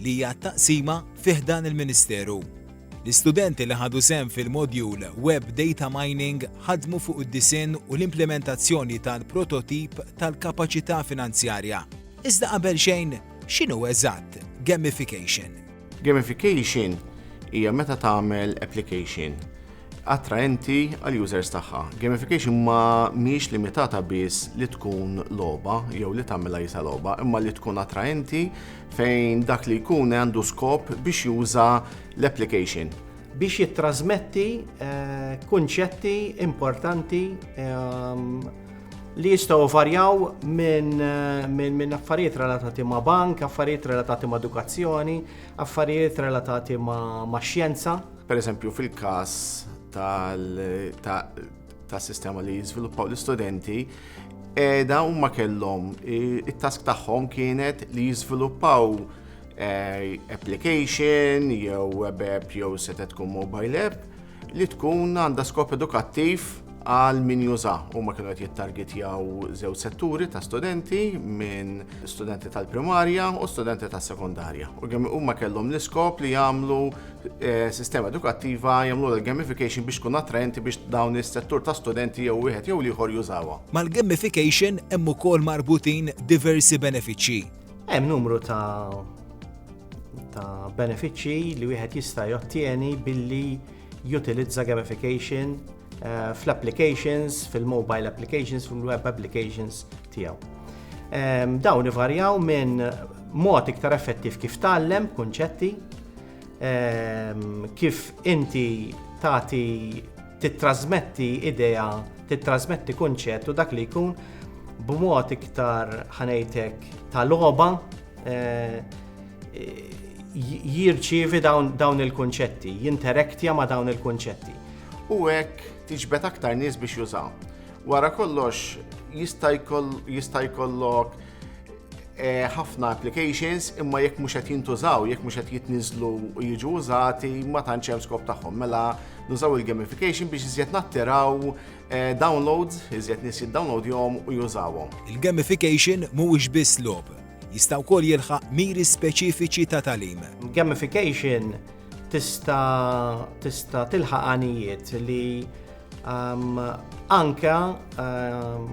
li hija t-taqsima fi ħdan il-Ministeru. L-istudenti li ħadu sehem fil-modjul Web Data Mining ħadmu fuq id-disinn u l-implementazzjoni tal-prototip tal-kapaċità finanzjarja. Iżda qabel xejn, x'inhu eżatt gamification? Gamification hija meta tagħmel application attraenti għall-users tagħha. Gamification ma mhijiex limitata biss li tkun logħba jew li tagħmilha jisa logħba, imma li tkun attraenti fejn dak li jkun għandu skop biex juża l-application. Biex jittrasmetti eh, kunċetti importanti ehm, li jistaw varjaw minn eh, min, min affarijiet relatati ma' bank, affarijiet relatati ma' edukazzjoni, affarijiet relatati ma', ma xjenza. Per eżempju, fil-kas tal ta' sistema li jiżviluppaw l-istudenti edha u ma kellhom it-task tagħhom kienet li jiżviluppaw eh, application jew web app jew seta tkun mobile app li tkun għandha skop edukattiv għal min juża u ma kienu qed jittargetjaw żew setturi ta' studenti minn studenti tal-primarja u studenti tas-sekondarja. U kemm huma kellhom l-iskop li jagħmlu Eh, sistema edukattiva jagħmlu l-gamification biex tkun attraenti biex dawn is-settur ta' studenti jew wieħed jew ieħor jużawha. Mal-gamification hemm ukoll marbutin diversi benefiċċji. Hemm numru ta' ta' benefiċċji li wieħed jista' jottieni billi jutilizza gamification eh, fl-applications, fil-mobile applications, fil-web applications tiegħu. Ehm, dawn ivarjaw minn mod iktar effettiv kif tgħallem kunċetti, ehm, kif inti tagħti tittrasmetti idea, tittrasmetti kunċett u dak li jkun b'mod iktar ħanejtek ta' loba eh, jirċievi dawn il-kunċetti, jinteraktja ma' dawn il-kunċetti. U hekk tiġbed aktar nies biex jużaw. Wara kollox jista' jkollok eh, ħafna applications imma jekk mhux qed jintużaw, jekk mhux qed jitniżlu u jiġu użati ma tantx hemm skop tagħhom. Mela nużaw il-gamification biex iżjed nattiraw eh, downloads, iżjed nies jiddownloadjhom u jużawhom. Il-gamification mhuwiex biss lob, jista' wkoll jilħaq miri speċifiċi ta' talim. Gamification tista' tista' tilħaq għanijiet li Um, anka um,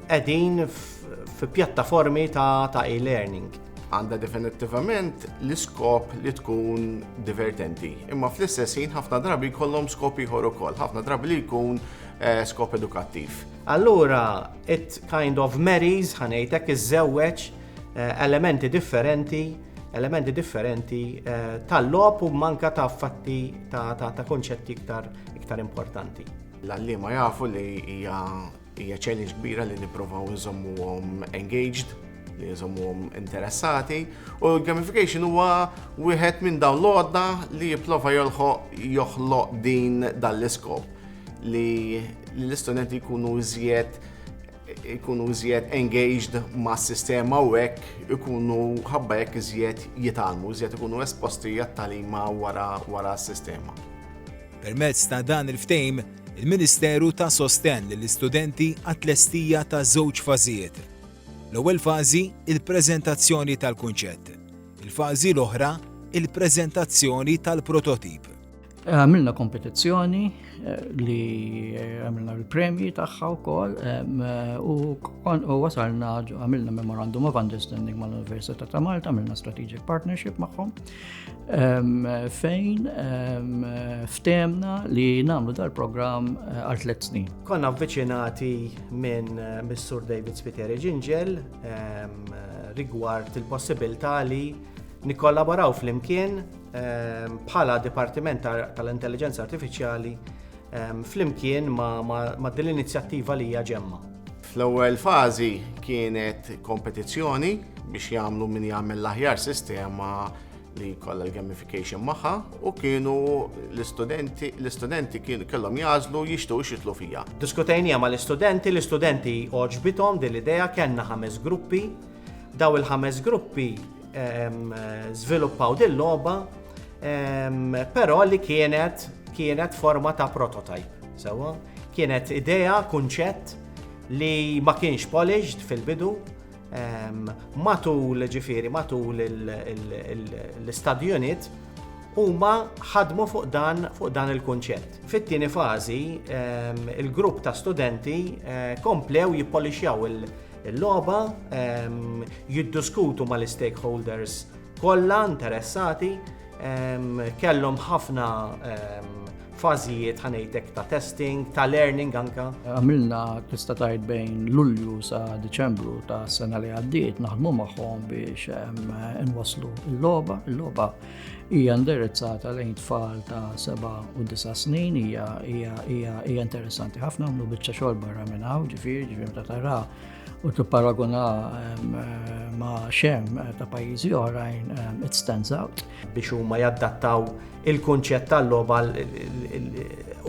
edin fi pjattaformi ta', ta e-learning. Għanda definittivament l-iskop li tkun divertenti. Imma fl-istess ħin ħafna drabi kollom skop ieħor ukoll, ħafna drabi li jkun eh, skop edukattiv. Allura, it kind of marries ħanejtek iż-żewweġ eh, elementi differenti elementi differenti eh, tal-lop u manka ta' fatti ta', ta, ta konċetti iktar iktar importanti. L-għallima jafu li hija challenge kbira li nipprovaw nżommuhom engaged, li nżommuhom interessati, u gamification huwa wieħed minn dawn l-għodda li jipprova joħloq din dal-iskop li l-istudenti jkunu iżjed ikunu iżjed engaged ma' sistema u hekk ikunu ħabba hekk iżjed jitalmu, iżjed ikunu esposti għat-talima wara wara s-sistema. Permezz ta' dan il-ftejm, il-Ministeru ta' sostenn lill-istudenti għat-tlestija ta' żewġ fażijiet. L-ewwel fażi, il-preżentazzjoni tal-kunċett. Il-fażi l-oħra, il-preżentazzjoni tal-prototip. Għamilna kompetizzjoni eh, li eh, għamilna l-premji tagħha wkoll eh, u wasalna għamilna memorandum of understanding mal-Università ta' Malta, għamilna strategic partnership magħhom fejn ftemna li nagħmlu dal-programm għal tliet snin. Konna avviċinati minn Missur David Spiteri Ġinġel rigward il-possibilità li nikkollaboraw fl-imkien Ehm, bħala Dipartiment tal-Intelligenza Artifiċjali ehm, flimkien ma' din l-inizjattiva li hija ġemma. Fl-ewwel fażi kienet kompetizzjoni biex jagħmlu min jagħmel l-aħjar sistema li kollha l-gamification magħha u kienu l-istudenti l-istudenti kienu kellhom jażlu jixtiequ xitlu fija. Diskutejnija ma l-istudenti, l-istudenti oġbithom din l-idea kellna ħames gruppi. Daw il-ħames gruppi żviluppaw din logħba però li kienet kienet forma ta' prototype. Sewa, kienet idea, kunċett li ma kienx polished fil-bidu matul ġifiri, matul l-study unit huma ħadmu fuq dan fuq dan il-kunċett. Fit-tieni fażi, il-grupp ta' studenti eh, komplew jippolixjaw il- Il-logħba ehm, jiddiskutu mal-istakeholders kollha interessati ehm, kellhom ħafna ehm, fażijiet ħanejtek ta' testing, ta' learning anka. Għamilna tista' tajt bejn Lulju sa' Deċembru ta' sena li għaddiet naħdmu magħhom biex nwaslu l-logħba, l-logħba hija indirizzata lejn tfal ta' 7 u 9 snin, hija interessanti ħafna, għamlu biċċa xogħol barra minn hawn, ġifieri, ġifieri ta' tara u tipparaguna ma' xem eh, ta' pajjiżi oħrajn it stands out. Biex huma jaddattaw il-kunċett tal-logħba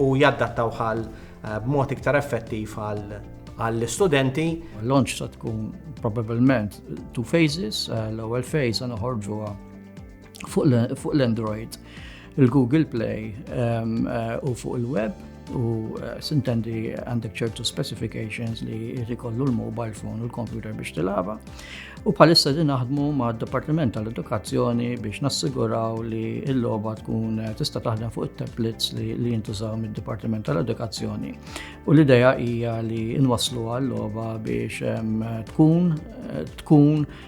u jaddattaw ħal eh, b'mod iktar effettiv għall-istudenti. L-launch ta' tkun probabilment two phases, eh, l-ewwel phase għana ħorġuha fuq l-Android, il-Google Play ehm, eh, u fuq il-web u eh, sintendi għandek ċertu specifications li jrikollu l-mobile phone u l-computer biex tilaba. U palissa din naħdmu ma' Departiment tal-Edukazzjoni biex nassiguraw li l-loba tkun eh, tista' taħdem fuq it-tablets li, li jintużaw mid-Departiment tal-Edukazzjoni. U l-ideja hija li nwaslu għal-loba biex ehm, tkun tkun